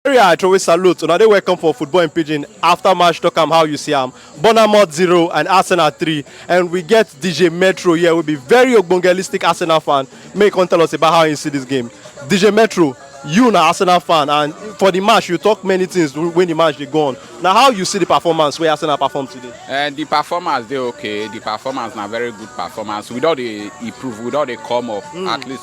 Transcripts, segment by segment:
Nigeria, I always salute. Now they welcome for football in Pigeon. After match, talk am how you see am. Bonamot zero and Arsenal three, and we get DJ Metro here. Will be very ogbongelistic Arsenal fan. May come tell us about how you see this game. DJ Metro, you na Arsenal fan, and for the match you talk many things when the match dey go on. Na how you see the performance wey Arsenal perform today? Uh, the performance dey okay. The performance na very good performance. We don dey improve. We don dey come up at least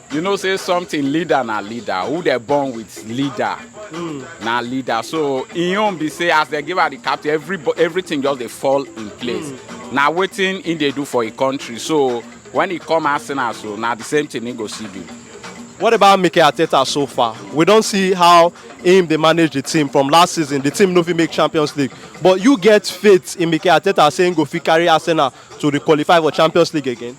you know say something leader na leader who dey born with leader mm. na leader so im own be say as dem give her the captain every everything just dey fall in place mm. na wetin im dey do for im country so when he come arsenal so na the same thing he go see do. what about mikel arteta so far we don see how him dey manage the team from last season the team no fit make champions league but you get faith in mikel arteta say he go fit carry arsenal to re-qualify for champions league again.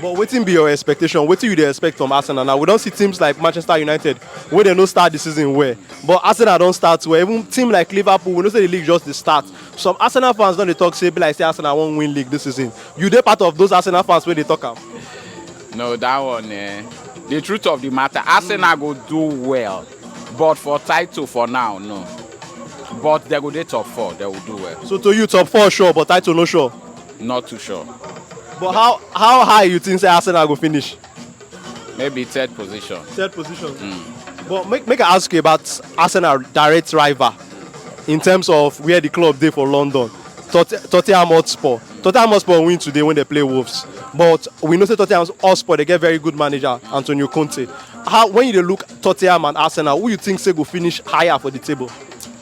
But wetin be your expectation? Wetin you dey expect from Arsenal now? We don see teams like Manchester United wey dem no start the season well, but Arsenal don start well. Even team like Liverpool, we know say the league just dey start. Some Arsenal fans don dey talk say e be like say Arsenal wan win league this season. You dey part of those Arsenal fans wey dey talk am? No, that one eh, the truth of the matter, Arsenal go do well, but for title for now, no. But they go dey top four, they will do well. So to you, top four sure, but title no sure? Not too sure. But how how high you think say Arsenal go finish? Maybe third position. Third position. Mm. But make, make I ask you about Arsenal direct rival in terms of where the club dey for London. Tot Tottenham Hotspur. Tottenham Hotspur win today when they play Wolves. But we know say Tottenham Hotspur they get very good manager Antonio Conte. How when you dey look Tottenham and Arsenal, who you think say go finish higher for the table?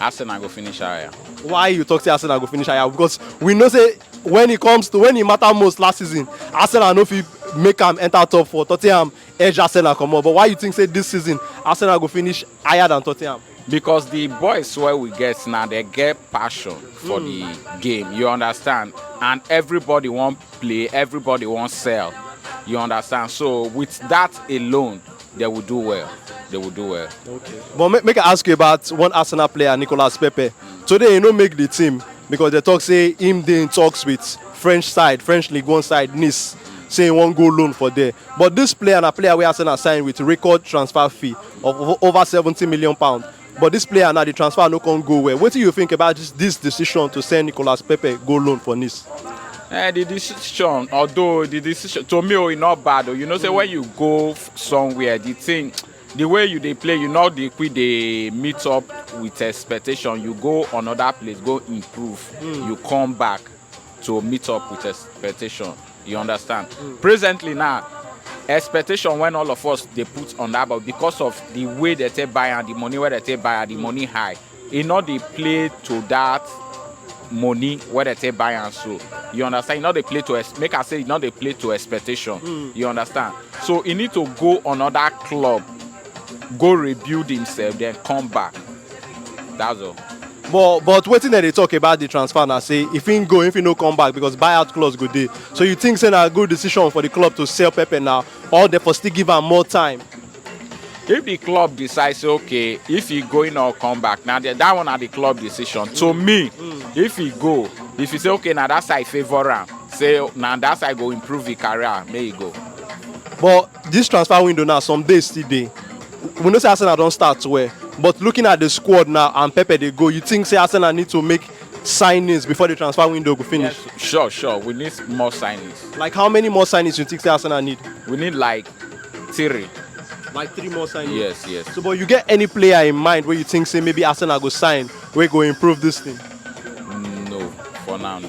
Arsenal go finish higher. why you talk say arsenal go finish higher because we know say when e comes to when e matter most last season arsenal no fit make am enter top four tottenham edge arsenal comot but why you think say this season arsenal go finish higher than tottenham. because the boys wey we get now they get passion for mm. the hmm. game you understand and everybody wan play everybody wan sell you understand so with that alone they will do well. They will do well. Okay. But make, make I ask you about one Arsenal player, Nicolas Pepe. Today he no make the team because they talk say him dey in talks with French side, French League One side, Nice. Say he wan go loan for there. But this player na player wey Arsenal sign with record transfer fee of over 70 million pounds. But dis player now, di transfer no come go well. Wetin you think about dis dis decision to send Nicolas Pepe go loan for Nice? Eh, the decision, although the decision to me, oh, e not bad. Oh, you know, say when you go f- somewhere, the thing, the way you dey play, you know, the quick they meet up with expectation. You go another place, go improve. You come back to meet up with expectation. You understand? Mm. Presently now, expectation when all of us they put on that, but because of the way they take buy and the money where they take buy and the money high, e no dey play to that money wey dem take buy am so you understand e no dey play to make i say e no dey play to expectation mm. you understand so e need to go another club go rebuild himself then come back that's all. but but wetin dem dey talk about the transfer na say if him go if him no come back because buyout clause go dey so you think say na good decision for the club to sell pepe now or dem for still give am more time. if the club decide say okay if he go in or come back na the, that one na the club decision to mm. me mm. if he go if he say okay na that side favour am say na that side go improve him career make he go. but Dis transfer window now some days still dey we know say Arsenal don start well but looking at the squad now and Pepe dey go you think say Arsenal need to make signings before the transfer window go finish? Yes, sure, sure. We need more signings. Like how many more signings you think say Arsenal need? We need like three. Like three more signings? Yes, yes. So, but you get any player in mind where you think say maybe Arsenal go sign, we go improve this thing? No, for now, no.